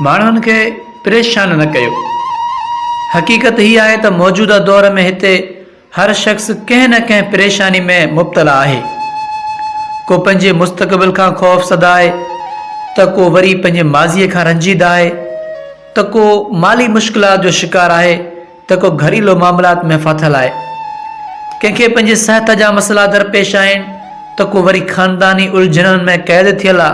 ماڻهن کي پريشان نه ڪيو. حقيقت هي آهي ته موجوده دور ۾ هتي هر شخص ڪنهن نه ڪنهن پريشاني ۾ مبتلا آهي. ڪو پنهنجي مستقبل کان خوف زده آهي ته ڪو وري پنهنجي ماضي کان رنجيده آهي ته ڪو مالي مشڪلات جو شڪار آهي ته ڪو گهريلو معاملات ۾ ڦاٿل آهي. ڪنهن کي پنهنجي صحت جا مسئلا درپيش آهن ته ڪو وري خانداني الجهنن ۾ قيد ٿيل آ.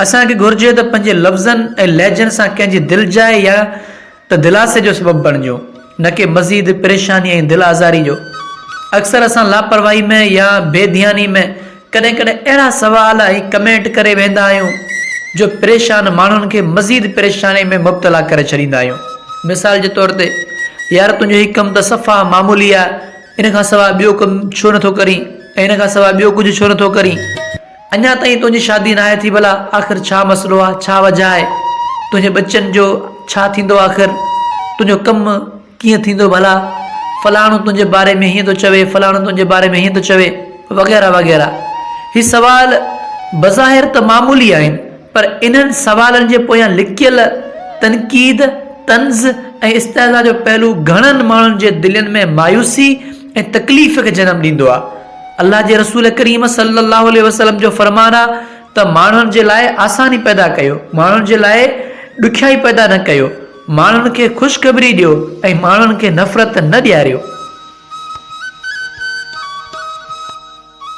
اسان کي گهرجي ته پنهنجي لفظن ۽ لهجن سان ڪنهن جي دل جاء يا ته دلاسي جو سبب بڻجون، نه ڪي مزيد پريشاني ۽ دل آزاري جو. اڪثر اسان لاپرواهي ۾ يا بي ڌياني ۾ ڪڏهن ڪڏهن اهڙا سوال ۽ ڪمينٽ ڪري ويهندا آهيون، جو پريشان ماڻهن کي مزيد پريشاني ۾ مبتلا ڪري ڇڏيندا آهيون. مثال جي طور تي، يار تنهنجو هي ڪم ته صفا معمولي آهي، ان کان سواء ٻيو ڪم ڇو نه ٿو ڪرين ۽ ان کان سواء ٻيو ڪجهه ڇو نه ٿو ڪرين؟ اڃا تائين تنهنجي شادي ناهي ٿي ڀلا آخر ڇا مسئلو آ ڇا وجه آهي تنهنجي ٻچن جو ڇا ٿيندو آخر تنهنجو ڪم ڪيئن ٿيندو ڀلا فلاڻو تنهنجي باري ۾ هيئن ٿو چوي فلاڻو تنهنجي باري ۾ هيئن ٿو چوي وغيره وغيره هي سوال بظاهر ته معمولي آهن پر انهن سوالن جي پويان لڪيل تنقيد طنز ۽ استهزاء جو پهلو گهڻن ماڻهن جي دلين ۾ مايوسي ۽ تڪليف کي جنم ڏيندو آ الله جي رسول ڪريم صلّي الله عليه وسلّم جو فرمان آ ته ماڻهن جي لاء آساني پيدا ڪيو، ماڻهن جي لاء ڏکيائي پيدا نه ڪيو، ماڻهن کي خوشخبري ڏيو ۽ ماڻهن کي نفرت نه ڏياريو.